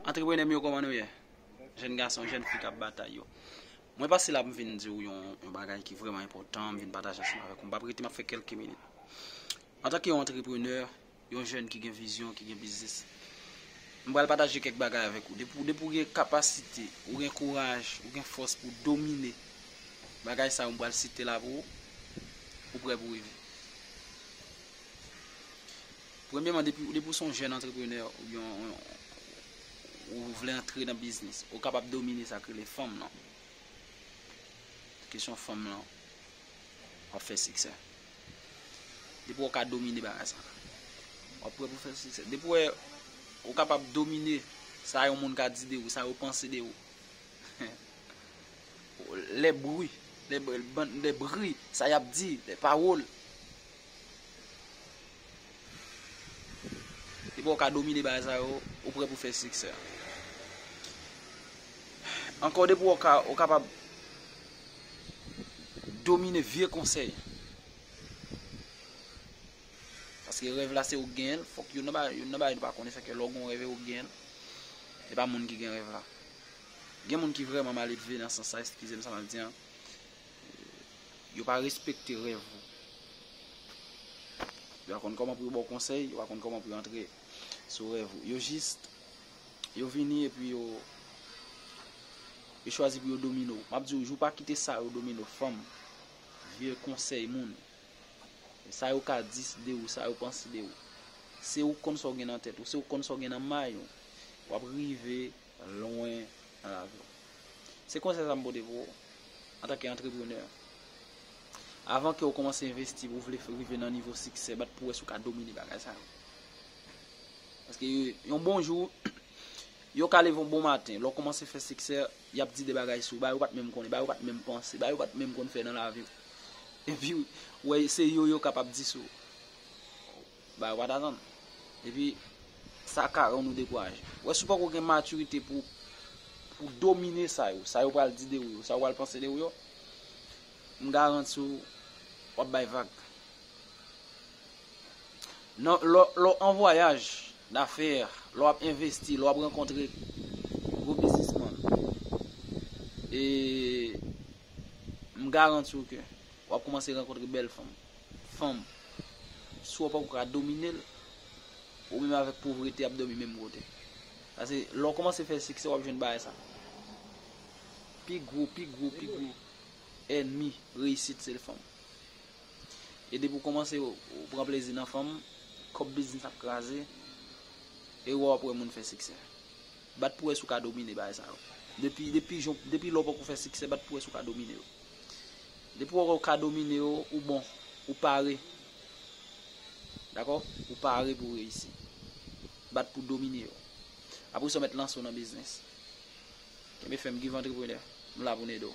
Antreprenè m yo koman nou ye? Jèn gason, jèn fi kap batay yo. Mwen pase la m vin di ou yon bagay ki vreman enpotan, m vin pataje ansanm avèk ou. M pap rete m ap fè kelke minit. Antan ke yon antreprenè, yon jèn ki gen vizyon, ki gen biznis, m pral pataje kèk bagay avèk ou. Depi ou gen kapasite, ou gen kouraj, ou gen fòs pou domine bagay sa yo m pral site la pou ou, ou prè pou rive. Premyèman depi ou son jèn antreprenè oubyen ou vle antre nan biznis ou kapab domine sa k rele fanm lan. Kesyon fanm lan wap fè siksè. Depi wè ou ka domine bagay sa wap prè pou fè siksè. Depi wè ou kapab domine sa yon moun ka di de ou, sa yo panse de ou. Lè bri, lè bri, sa yap di, lè pawòl. Depiw ka domine bagay sa yo, ou prè pou fè siksè. Ankò depiw ka ou kapab domine vye konsèy. Paske rèv la se ou genyen, fòk yo nan ba yo nan ba yo pa konnen sa ke lò gon rèv e ou genyen. E pa moun ki gen rèv la. Gen moun ki vreman maledve nan san sa eskize m sa map di an. Yo pa respekte rèv ou. Yo pa konn kòman pou yo ba w konsèy, yo pa konn kòman pou yo antre sou rèv ou. Yo jis, yo vini epi yo chwazi pou yo domine w. M ap di w, jou pa kite sa yo domine w, fanm, vye, konsèy moun, sa yo ka di de ou, sa yo panse de ou. Se ou k konn sa w gen nan tèt ou, se ou k konn sa w gen nan may ou. W ap rive. lwen nan lavi w. Se konsèy sa m pote pou ou antanke antreprenè. Avan ke ou kòmanse envesti pou ou vle rive nan nivo siksè, bat pou wè si ou ka domine bagay sa yo. Paske yon bon jou, yo ka leve yon bon maten, lè w kòmanse fè siksè, y ap di de bagay sou ou, bagay ou pat menm konnen, bagay ou pat menm panse, bagay ou pat menm konn fè nan lavi w. Epi ou wè se yo yo kapab di sou ou. Bagay pa ta tann. Epi sa ka rann ou dekouraje. Wè si ou poko gen matirite pou ou domine sa yo. Sa yo pral di de ou yo. Sa yo pral panse de ou yo. M garanti ou wap bay vag. Nan lè w an vwayaj dafè, lè w ap envesti, lè w ap rankontre gwo bizisman. E m garanti ou ke wap koumanse rankontre bèl fanm. Fanm. Si w poko ka domine l, ou menm avèk povrete ap dòmi menm kote. Sa se, lè w kòmanse fè siksè w ap jwenn bagay sa. Pi gwo, pi gwo, pi gwo ènmi reyisit se fanm. E depi w kòmanse w pran plezi nan fanm, kòb biznis ap kraze, e ou wè w ap wè moun fè siksè. Bat pou wè si w ka domine bagay sa yo. Depi, depi jan w, depi lè w poko fè siksè, bat pou wè si w ka domine yo. Depi wè w ka domine yo, ou bon, ou pare. Dakò? Ou pare pou w reyisi. Bat pou w domine yo. Apresa w mèt lanse w nan biznis. Kenbe fèm, Give Entrepreneur. M la pou m ede w.